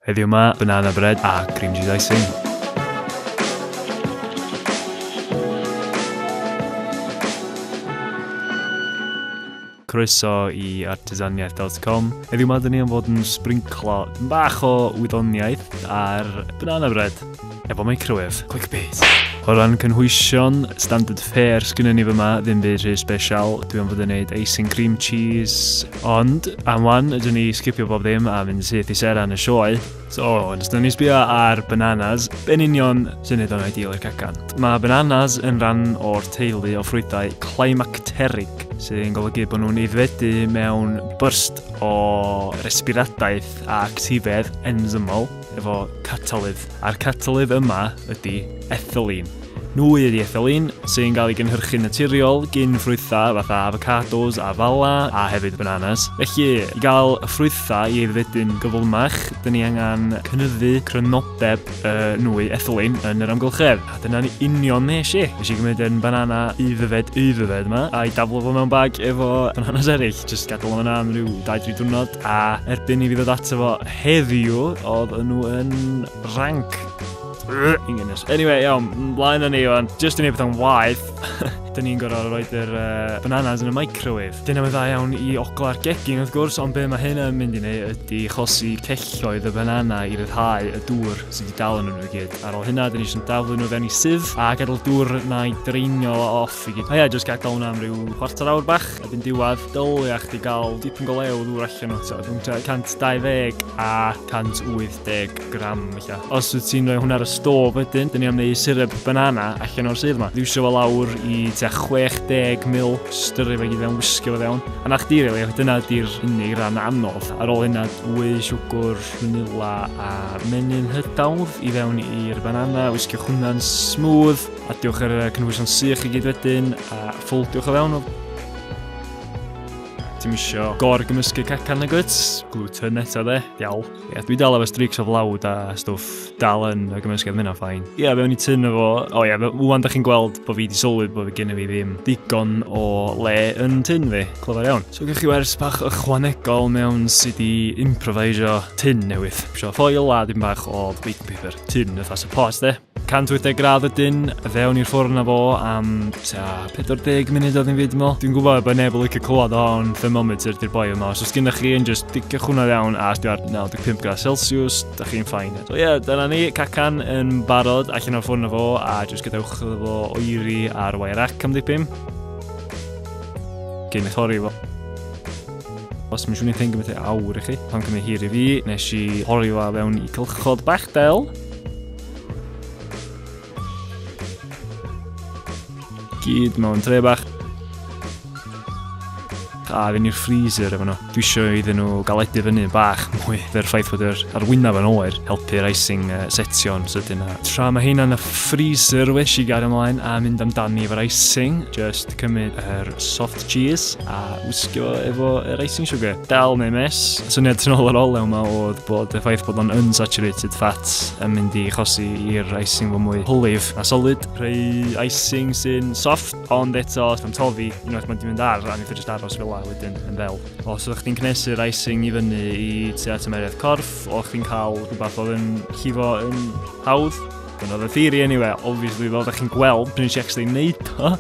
Heddiw 'ma, banana bread a cream cheese icing. croeso i artisaniaeth dotcom. Heddiw mae dyn ni am fod yn sbrinclo bach o wyddoniaeth ar banana bread. efo microwave. Clickbait. O ran cynhwysion, standard fare sgynny ni fyma, ddim byd rhy special. Dwi am fod yn neud icing cream cheese. Ond, am wan, ydw ni sgipio bob ddim a mynd syth i sera yn y sioe. So, yn ystod ni sbio ar bananas, be'n union sy'n neud o'n ideal i'r cacan? Mae bananas yn rhan o'r teulu o ffrwythau climacteric, sy'n golygu bod nhw'n ifedu mewn burst o resbiradaeth a actifedd enzymol. efo catalydd, a'r catalydd yma ydy ethylene. Nhw ydy ethylene sy'n cael ei gynhyrchu'n naturiol gyn ffrwythau fatha avocados a fala a hefyd bananas. Felly, i gael y ffrwythau i aeddfedu'n gyflymach, dyn ni angen cynyddu crynodeb y nwy ethylene yn yr amgylchedd. A dyna'n union nes i. Nes i gymryd yn banana aeddfed aeddfed yma a'i daflu fo mewn bag efo bananas eraill. Jyst gadael o'n yna am rhyw 2-3 diwrnod. A erbyn i fi ddod ato fo heddiw, oedd nhw yn rank. Ingenious. Anyway, iawn, mlaen â ni o'n just i wneud bethau'n waith. Dyn ni'n gorfod rhoi yr uh, bananas yn y microwave. Dyna fe dda iawn i ogla'r gegin wrth gwrs, ond be mae hyn yn mynd i wneud ydy chosi celloedd y banana i ryddhau y dŵr sydd wedi dal yn nhw i gyd. Ar ôl hynna, dyn ni eisiau daflu nhw fewn i sydd a gadael dŵr na'i dreinio off Fi gyd. Ia, jyst gadael hwnna am ryw chwarter awr bach, a byn diwad, dylia chdi gael dipyn go lew ddŵr allan o, ti'n rhwng 120 a 180 gram, felly. Os wyt ti'n rhoi hwnna ar y stof wedyn, dyn ni am wneud syrup banana allan o'r sydd yma. Ddiwsio fo lawr i tua 60 mil, styru fe gyd fewn, wisgo fe fewn. A na chdi, rili, dyna di'r unig ran anodd. Ar ôl hynna, dwy siwgwr, vanilla a menyn hydawdd i fewn i'r banana, wisgo hwnna'n smooth. Adiwch ar y cynhwysion sych i gyd wedyn a ffoldiwch o fewn o. Ti'n misio gor gymysgu cacan y gwt, gluten eto dde, diawl. Ie, dwi dal efo streaks o flawd a stwff dal yn y gymysgu oedd mynd ffain. Ie, fe o'n i tyn efo, o ie, wwan da chi'n gweld bod fi di sylwi bod fi gen i fi ddim digon o le yn tyn fi, clyfar iawn. So gwych chi wers bach ychwanegol mewn sydd i improvisio tyn newydd. Sio ffoil a dim bach o baking paper, tyn, fatha support de. 180 gradd y dyn, fewn i'r ffwrn na fo am ta 40 munud oedd hi'n fyd mo. Dwi'n gwybod bod neb yn licio clywed o ond thermometer di'r boi yma. Os oes gennych chi yn just diciwch hwnna iawn a sdio ar 95 gradd Celsius, da chi'n ffain. So ie, yeah, dyna ni, cacan yn barod allan o'r ffwrn na fo a just gadewch iddo fo oeri ar wair ac am ddipyn. Cyn eich hori fo. Os mae'n siŵr ni'n ffeindio beth awr i chi, pan cymryd hir i fi, nes i hori fo fewn i cylchod bach del. Gyd mewn tre bach. A fynd i'r freezer efo nhw. Dwi eisiau iddyn nhw galedu fyny bach mwy fe'r ffaith bod yr arwynaf yn oer helpu'r icing uh, setio'n sydyn a tra mae hyn yn y freezer wesh i gario ymlaen a mynd amdani efo'r icing just cymryd yr soft Cheers a wisgo efo yr icing sugar. Dal neu mes, syniad tyn ôl yr olew yma oedd bod y ffaith bod o'n unsaturated fat yn mynd i chosi i'r icing fo mwy hwlyf a solid. Rhai icing sy'n soft, ond eto os mae'n tofi, unwaith mae'n mynd ar, a nid jyst aros fel la wedyn yn fel. Os ydych chi'n cnesu'r icing i fyny i tua tymeriad corff, o chi'n cael rhywbeth oedd yn llifo yn hawdd, Dyna oedd y theory anyway, obviously fel ydych chi'n gweld, pryn i chi actually wneud o,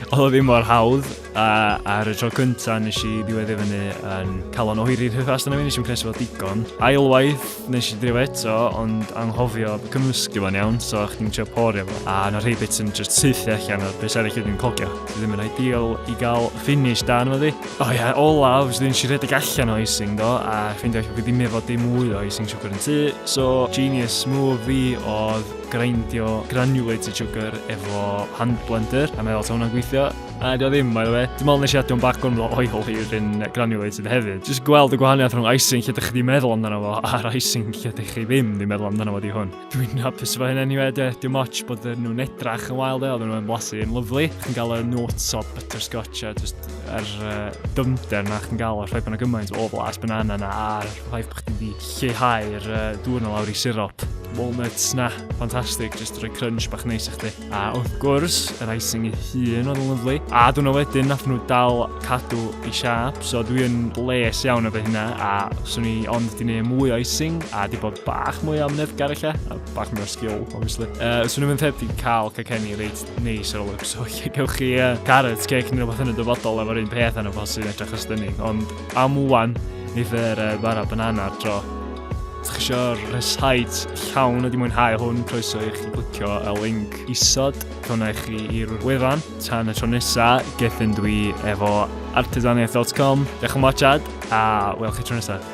Oedd o ddim mor hawdd, a ar y tro cyntaf nes i ddiwedd i fyny yn calon oeri rhyw fast yna fi, nes i'n pres fel digon. Ailwaith nes i ddriw eto, ond anghofio cymysgu fo'n iawn, so chdi'n trio porio fo. A na rhai bits yn just syth allan o'r beth arall ydw'n cogio. Dwi ddim yn ideal i gael finish da yma ddi. O ia, olaf, dwi ddim si redeg allan o icing do, a ffeindio allan bod dim efo dim mwy o icing siwgr yn tu, so genius move fi oedd grindio granulated sugar efo hand blender a meddwl ta hwnna'n gweithio a dio ddim by the way dim ond nes i adio yn bach gormod o oil i yr un granulated hefyd jyst gweld y gwahaniaeth rhwng icing lle dych chi di meddwl amdano fo a'r icing lle dych chi ddim di meddwl amdano fo di hwn dwi'n hapus efo hyn anyway de dim ots bod nhw'n edrach yn wael de oedden nhw'n blasu yn lyflu chi'n gael y notes o butterscotch a just yr uh, dyfnder na chi'n gael o'r ffaith bod yna gymaint o blas banana na a'r ffaith bod chdi di lleihau'r dŵr 'na lawr i sirop. Walnuts 'na, ffantastig, jyst rhoi crunch bach neis i chdi. A wrth gwrs, yr icing ei hun oedd yn lyflu. A dwi'n wedyn nath nhw dal cadw i siap, so dwi yn les iawn efo hynna, a swn i ond di neud mwy o icing, a di bod bach mwy o amnefgar ella, a bach mwy o sgil, obviously. Uh, swn i'n mynd heb di cael cacenni reit Neis ar ôl y so lle gewch chi uh, carrot cake neu rhywbeth yn y dyfodol efo'r un peth yn y bos sy'n edrych ystynig. Ond am wwan, ni fer uh, bara banana ar dro. Ydych chi eisiau rhyshaid llawn ydi mwynhau hwn, croeso i chi glicio y link isod. Cona i chi i'r wefan. Tan y tro nesa, gethyn dwi efo artesaniaeth.com. Diolch yn watchad, a welch chi tro nesaf.